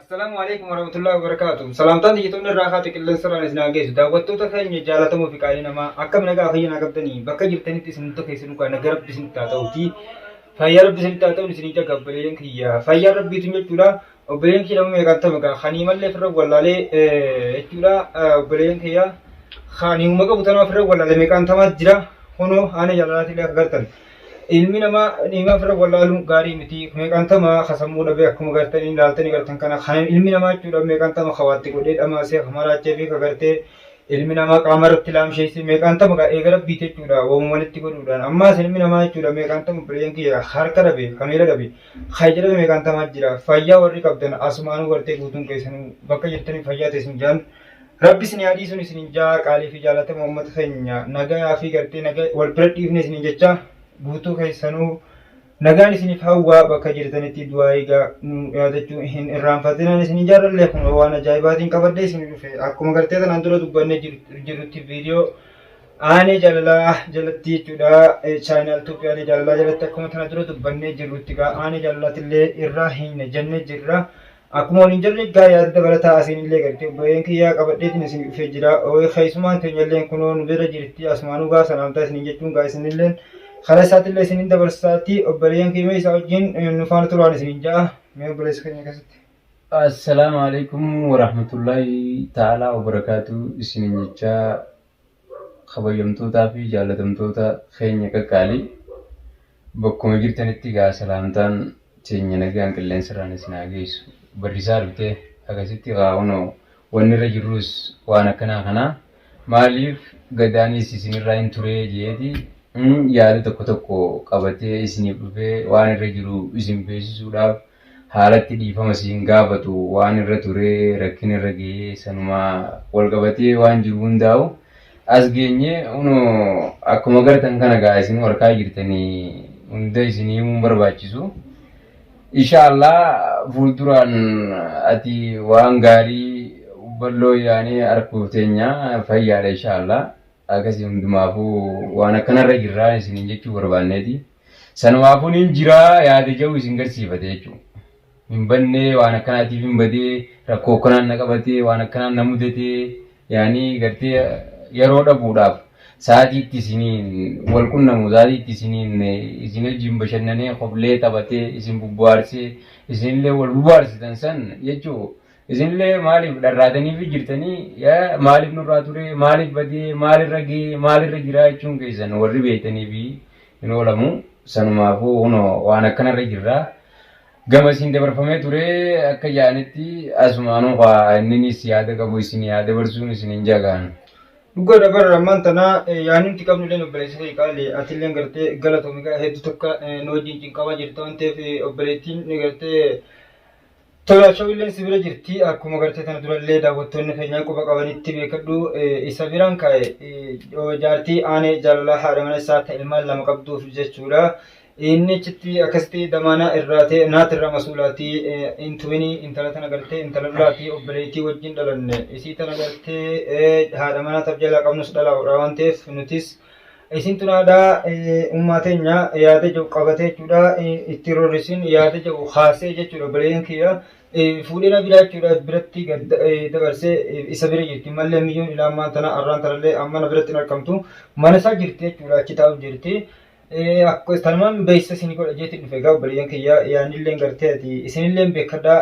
Assalaamu alaikum warahmatullahi wabarakatuh. Salaamtaan xiyyeetoonni irraa haati qilleensa irraan isin hageessu. Daawwattoota keenya jaalatamoo fi qaalii namaa akkam nagaa fayyana qabdanii bakka jirtanitti isin hunda keessanuu kan nagaa rabbi isinitti haa ta'uuti. Fayyaa rabbi isinitti haa ta'uun isin ija gabbaleen kiyya. Fayyaa rabbiitu jechuudha. obboleen kee nama meeqaan tame kaa kanii mallee firra wallaalee jechuudha obboleen kiyya kan hima qabu tanaa firra wallaalee meeqaan tamaa jira kunoo haana jaalalaati illee gartan ilmi namaa hima firra wallaaluun gaarii miti meeqaan tamaa kasammuu dhabee akkuma gartan inni laaltanii gartan kana kan ilmi namaa jechuudha meeqaan tama kawaatti godhee dhamaasee kamaraachee fi kagartee ilmi namaa qaama irratti laamsheessee meeqaan tama kaa eega rabbiiti jechuudha waamuma walitti godhuudhaan ammaas ilmi namaa jechuudha meeqaan tama obboleen kiyya harka dhabe kamiila dhabe Kan jedhame meeqaan tamaa jira. Fayyaa warri qabdan asumaanuu gartee guutuun keessanuu bakka jirtanii fayyaa ta'e isin jaan. Rabbi isin haa dhiisuun isin jaa qaalii fi jaalatama uummata keenya nagayaa fi gartee nagaa wal bira dhiifne isin jecha guutuu keessanuu nagaan isiniif hawwaa bakka jirtanitti du'aa egaa nu yaadachuu hin irraanfatinaan isin jaarallee kun waan ajaa'ibaatiin qabadhee isin dhufe akkuma gartee tanaan dura dubbanne jirrutti viidiyoo Aanee jaalalaa jalatti jechuudha. Chaayinaal Tuuppii aanee jaalalaa jalatti akkuma kana dura dubbannee jirrutti gaa aanee jaalalaatti illee irraa hin jenne jirra. Akkuma waliin jirre gaa yaada dabalataa asiin illee gartee obboleen kiyyaa qabadheetiin isin dhufee jira. Keessumaan keenya illee kunoo nu bira jirti asumaanuu gaa salaamtaa isin jechuun gaa isin illee karaa isaatti illee isin dabarsaati obboleen kiyya isaa wajjin nu faana turaan isin ja'a. Mee obboleessa keenya keessatti. Assalaamu alaikum warahmatullaahi ta'aalaa wabarakaatu isinin jechaa Kabajamtootaa fi jaallatamtoota keenya qaqqaalii bakkuma jirtanitti egaa salaamtaan teenya nagaan qilleensarraan isin haa geessu. Barrisaa dhuftee akkasitti egaa unoo wanni irra jirrus waan akkanaa kanaa maaliif gadaanis isinirraa hin turee jeeti yaada tokko tokko qabatee isiniif dhufee waan irra jiru isin beeksisuudhaaf haalatti dhiifama si hin gaafatu waan irra ture rakkin irra gahee sanuma wal qabatee waan jiru hundaa'u as geenye uno akkuma gartan kana gaa isin warkaa jirtanii hunda isin himuun barbaachisu inshaallah fuulduraan ati waan gaarii balloo yaanee arguuf teenya fayyaadha inshaallah akkasii hundumaafuu waan akkanarra jirraa isiniin jechuu barbaanneeti. Sanumaafuu nin jiraa yaada jedhu isin garsiifate jechuudha. Hin bannee waan akkanaatiif hin badee rakkoo akkanaan na qabatee waan akkanaan na mudatee yaanii gartee yeroo dhabuudhaaf sa'aatiitti isiniin wal qunnamu sa'aatiitti isiniin isin wajjin bashannanee koflee taphatee isin bubbuhaarsee isinillee wal bubbuhaarsitan san jechuu Isinillee maaliif dharraataniifi jirtanii maaliif nurraa turee maaliif badee maalirra gee maalirra jiraa jechuun keessan warri beektaniifi hin oolamu sanumaafuu kunoo waan akkanarra jirra gama isin dabarfamee turee akka ja'anitti asumaanuu kaa inninis yaada qabu isin yaa dabarsuun isin hin jagaan. Dhugaa dabarra ammaan tanaa yaanumti qabnu illee obboleessa kee qaali ati illee gartee galatomi gaa hedduu takka nu wajjin cinqamaa jirta waan ta'eef obboleettiin gartee Tolaa show illeen si bira jirti akkuma gartee tana durallee daawwattoonni keenyaa quba qabanitti beekadhu isa biraan kaa'e jaartii aanee jaalalaa haadha mana isaa ta ilmaan lama qabduuf jechuudha. Inni achitti akkasitti damaanaa irraa ta'e naati irraa masuulaatii hin tuminii intala tana gartee intala lolaatii obboleettii wajjin dhalanne isii tana gartee haadha manaa tab jalaa qabnus dhalaa hodhaa waan ta'eef nutis Isin tunaadha ummaa teenya yaada jedhu qabatee jechuudha itti rorrisin yaada jedhu kaasee jechuudha obboleeyyan kiyya fuudhee na biraa jechuudha biratti dabarsee isa bira jirti mallee miyyoon ilaa ammaan tana arraan tanallee amma na biratti hin argamtu mana isaa jirti jechuudha achi taa'u jirti. Akkas tanumaan beeksisa isin godha jeetiin dhufe egaa obboleeyyan kiyya yaanillee gartee ati isinillee beekadha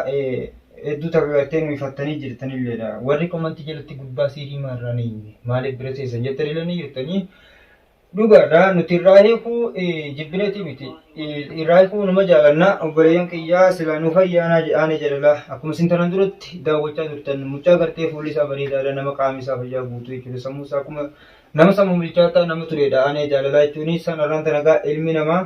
Hedduu tapha bartee nu ifattanii jirtanilleedha. Warri komantii jalatti gurbaa siirii maarraa ni himne maaliif bira teessan jettanillee ni jirtanii. Dhugaadha nuti irraa hiikuu jibbineeti miti. Irraa hiikuu numa jaalannaa obboleeyyan kiyyaa silaa nu fayyaanaa jedhaanii jaalala. Akkuma isin tanaan duratti daawwachaa turtan mucaa gartee fuulli isaa bareedaadha nama qaamni isaa fayyaa guutuu jechuudha. Sammuu isaa akkuma nama sammuu bilchaataa nama tureedha aanee jaalalaa jechuun sanarraan tanagaa ilmi namaa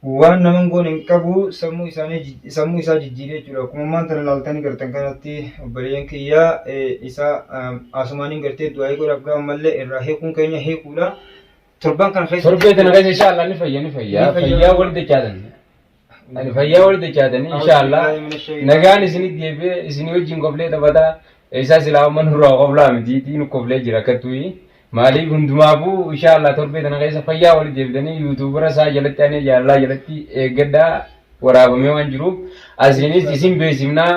Waan nama hin goone hin qabu sammuu isaanii jij- sammuu isaa jijjiiree jechuudha. Akkuma ammaan tana laaltanii gartan kanatti obboleeyyan kiyya eh, isaa ah, asumaaniin gartee du'aa'ii godhaaf gaafa mallee irraa hiikuun keenya hiikuudha. Torban kana keessatti Torbee kana keessa inshaallah ni fayya ni fayya. Ni fayya. Fayyaa wal dachaatan. Ani fayyaa wal dachaatan inshaallah. A'uuzubillahi minash shaytaan. Nagaan isinii deebi'ee isinii wajjin koflee taphataa. Isaa silaa amma nurraa koflaa miti. Diinu koflee jira akka tuyi. Maalii hundumaafuu inshaa Allah torbee tana keessa fayyaa walitti deebitanii yuutuubara isaa jalatti anee jaalalaa jalatti eeggadhaa waraabamee waan jiruuf asiinis isin beeksifnaa.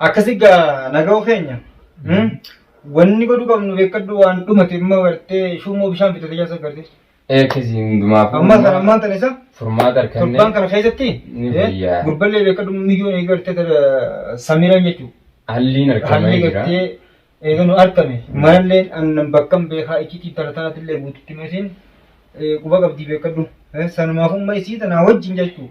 Akkasi gaa naga'u keenya. Wanni godhu qabnu beekadhu waan dhumate immoo gartee shuumoo bishaan bitatee jaasa gartee. Eekkisi hundumaafuu. Ammaa sana ammaan tana isa Furmaata torbaan argannee kana keessatti Ni fayyaa. gurballee beekadhu mijoon eegartee samiran jechuudha. halliin Haalli argamee jira. gartee Eega nu arkame manalleen annan bakkan beekaa iccitii tana tanatillee guututti masiin quba qabdii beekadhu. Sanumaaf umma isii tanaa wajjin jechuu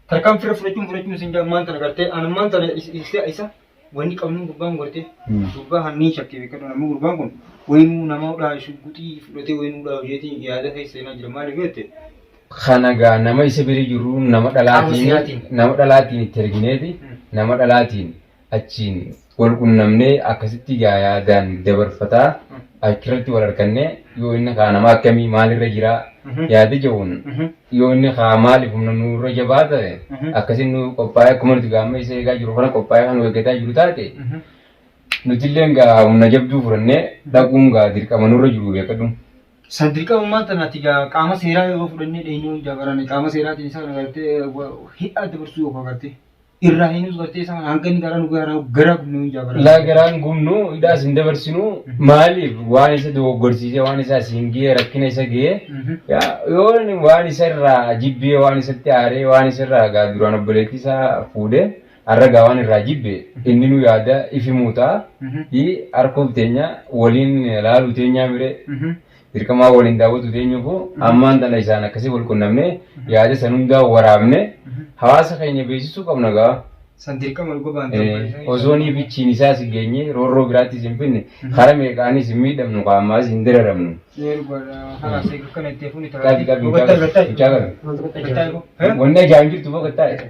tarkaan fira fudhachuun fudhachuun isin jaa ammaan tana gartee an ammaan tana isa isa wanni qabnuun gurbaan gartee gurbaa kan niin shakkee beekadhu namni gurbaan kun wayinuu nama udhaa shugguxii fudhatee wayinuu udhaa hojeetiin yaada keessa seenaa jira maaliif jette Kana gaa nama isa bira jirru nama dhalaatiin nama dhalaatiin itti ergineeti nama dhalaatiin achiin wal qunnamnee akkasitti gaayaa daan dabarfataa achirratti wal arkanne yoo inni kaa nama akkamii maalirra jira yaada ja'uun yoo inni kaa maaliif humna nurra jabaa ta'e akkasin nu qophaa'ee akkuma nuti gaamma isa eegaa jiru kana qophaa'ee kan nu eeggataa jiru taate nutilleen gaa humna jabduu fudhannee dhaquun gaa dirqama nurra jiru beekadhu. San dirqama maanta nati gaa qaama seeraa yoo fudhannee dheenyuu dabarane qaama seeraatiin isaa agartee hidhaa dabarsuu yoo agartee. irraa hin hubattee sana hanga inni gara nu gara gara gubnu hin jaabara. Laa garaan gubnu hidhaas hin dabarsinu maaliif waan isa dogoggorsiisee waan isa asiin ga'ee rakkina isa ga'ee yaa yoo inni waan isa irraa jibbee waan isatti aaree waan isa irraa gaa duraan obboleettii isaa fuudhee har'a gaa waan irraa jibbe inni nu yaada ifi muutaa fi harkuuf teenya waliin laaluu teenyaa miree Dirqamaa waliin daawwatu teenyuufuu ammaan tana isaan akkasii wal qunnamne yaada san hundaa waraabne hawaasa keenya beeksisuu qabna gaa. San dirqama dhuga baantu. Osoo ni bichiin isaas hin geenye roorroo biraattis hin finne kara meeqaanis hin miidhamnu qaamaas hin dararamnu. Qabi qabi hin caalu. Wanni ajaan jirtu fokkattaa'e.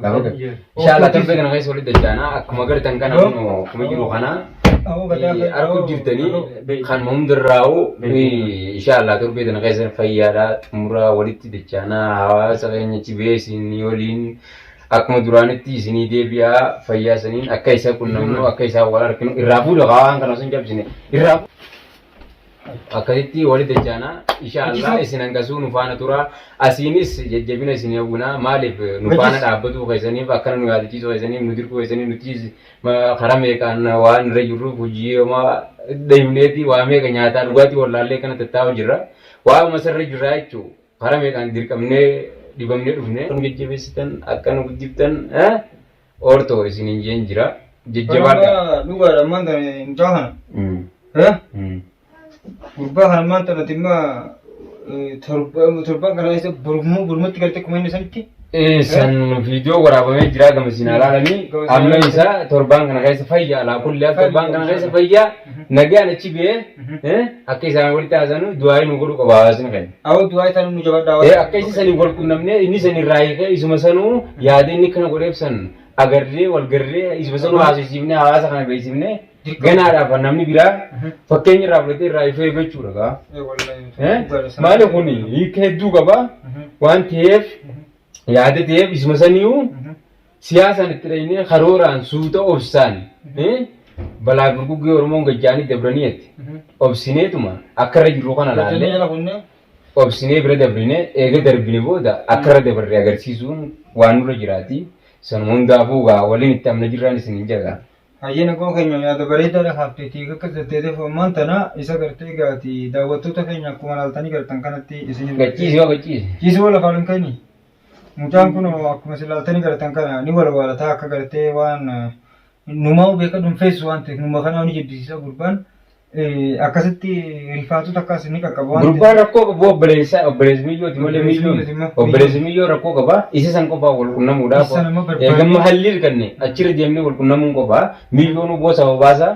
Inshallah torbee kana keessa walitti dachaana akkuma agartan kana kunoo akkuma jiru kana eh, arguu jirtanii kan hundarraa'u eh, inshallah torbee kana keessa fayyaadha xumuraa walitti dachaana hawaasa keenya chibeesin waliin akkuma duraanitti isinii deebi'aa fayyaa saniin akka isa qunnamnu akka isaa wal arginu irraa fuudha waan kana sun cabsine irraa fuudha. akkasitti wali dachaana insha Allah isin hangasuu nu faana tura asiinis jajjabina isin hawwina maaliif nu faana dhaabbatuu keessaniif akkana nu yaadachiisuu keessaniif nu dirquu keessaniif nuti karaa meeqaan waan irra jirruuf hojii homaa deemneeti waa meeqa nyaataa dhugaatii wallaallee kana tattaa'u jirra waa'uma sarara jirraa jechuu karaa meeqaan dirqamnee dhibamnee dhufne nu jajjabeessitan akka nu guddiftan Orto isinin jeen jira. Jajjabaadha. Kanarraa dhugaadha ammaan tana mucaa kana. Mm. Eh? Mm. Gurbaa kana ammaan tana dhimma eh, torba- torban kana keessa burmuu burmutti galtee kuma inni sanitti. Eh, san viidiyoo waraabamee jira gama isin alaalanii Gama isin amma alaalanii. isaa torbaan kana keessa fayya alaa kullee torbaan kana keessa fayya nagaan achi biyee eh, akka isaan walitti haasanu du'aa nu godhu qaba hawaasni keenya. Awoo du'aa itaan nu jabadhaa. Ee akka isa saniif wal qunnamnee inni san irraa hiikee isuma sanuu yaada inni kana godheef san agarree wal garree isuma sanuu haasofsiifnee hawaasa kana beeksifnee ganaadhaaf kan namni biraa fakkeenya irraa fudhatee irraa ifee jechuudha gaa. Eh? Maali kun hiika hedduu qaba waan ta'eef yaada ta'eef isuma saniyyuu Siyaasaan itti dhaynee karooraan suuta obsaan balaa gurguggee Oromoon gajjaanii dabranii jetti. Obsineetuma akka irra jirru kana laallee obsinee bira dabrine eega darbine booda akka irra dabarre agarsiisuun waan nurra jiraati. Sanuma hundaafuu gaa waliin itti amna jirraan isin hin jagaa. Hayyee nagoon keenya yaada bareedaadha haafteetii akka jetteeteef ammaan tana isa gartee gaati daawwattoota keenya akkuma laaltanii gartan kanatti isin Gachiisi yoo gachiisi. Ciisii wal afaan hin kennii. Mucaan kun akkuma isin ilaaltanii garatan kana ni walwaalataa akka gartee waan numaa'u beeka dhunfeessu waan ta'eef numa kanaa ni jibbisiisa gurbaan akkasitti rifaatu takkaas ni qaqqaba waan Gurbaan rakkoo qabu obboleessa obboleessa miyyooti malee miyyoon obboleessa miyyoo rakkoo qaba isa san qofaa wal qunnamuudhaaf Isa nama barbaade. eegamma halliir kanne achirra deemnee wal qunnamuun qofaa miyyoon oboo sababaasaa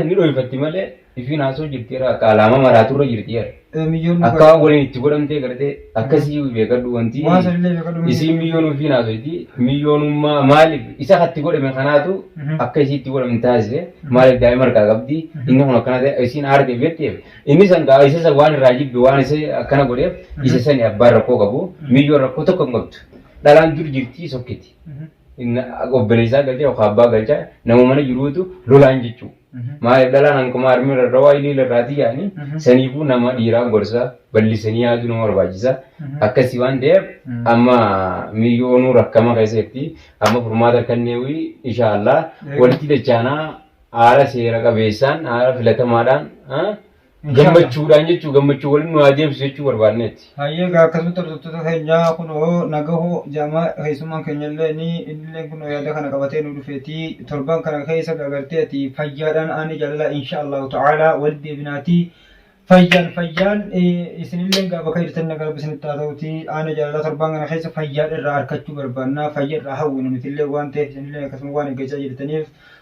ni dhoofatti malee Ifiin haasoo jirti irraa akka alaama maraatu irra jirti jedha. Eh, miyyoon Akka waan waliin itti godhamtee gartee akkasii beekadhu wanti Waan sanillee beekadhu miyyoon- isiin miyyoon ofiin haasofti miyyoonummaa maaliif isa katti godhame kanaatu Mhm. akka isii itti godhamu taasise maaliif daa'ima harkaa qabdi inni kun akkana ta'e isiin aarteef jetteef inni san gaa isa san waan irraa jibbe waan isa akkana godheef isa sani abbaan rakkoo qabu miyyoon rakkoo tokko hin qabdu dhalaan dur jirti sokkiti Mhm. Inna- obboleessaa galchaa yookaan abbaa galchaa nama mana jiruutu lolaan jechuudha. Maaliif dhalaan hanquma harmee irra rawaa ilii irraatii yaani saniifuu nama dhiiraa gorsa ballisanii yaaduu nama barbaachisa akkasii waan ta'eef amma miliyoonuu rakkama keessatti amma furmaata kanneewii inshaallah walitti dachaanaa haala seera qabeessaan haala filatamaadhaan gammachuudhaan jechuu gammachuu waliin nu haa deebisu jechuu barbaanneeti. Hayyee gaa akkasumatti hordoftoota keenyaa kunoo nagahoo jaamaa keessummaan keenyallee ni innillee kunoo yaada kana qabatee nu dhufeeti torban kana keessa gagartee ati fayyaadhaan aanee jaalalaa insha Allahu ta'ala walitti deebinaati fayyaan fayyaan eh, isinillee gaa bakka jirtan nagaa rabbi isinitti haa ta'uti aanee jaalalaa torban kana keessa fayyaa irraa arkachuu barbaanna fayya irraa hawwina nutillee waan ta'eef isinillee akkasuma waan eeggachaa jirtaniif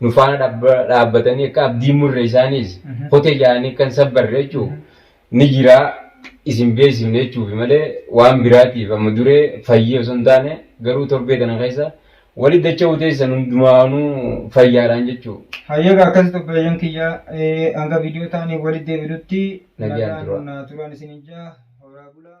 nu faana dhabba- dhaabbatanii akka abdii hin murre isaaniis Mhm. kote jaanii akka hin sabbarre jechuu ni jira isin beeksifne jechuufi malee waan biraatiif amma duree fayyee osoo hin taane garuu torbee tana keessa wali dacha'uu teessan hundumaanuu fayyaadhaan jechuu Hayyaga akkas obboleeyyan kiyya eh, hanga viidiyoo taanii walitti deebi'utti Nagaan nagaan tura. naa turaan isin ijaa horaa bulaa.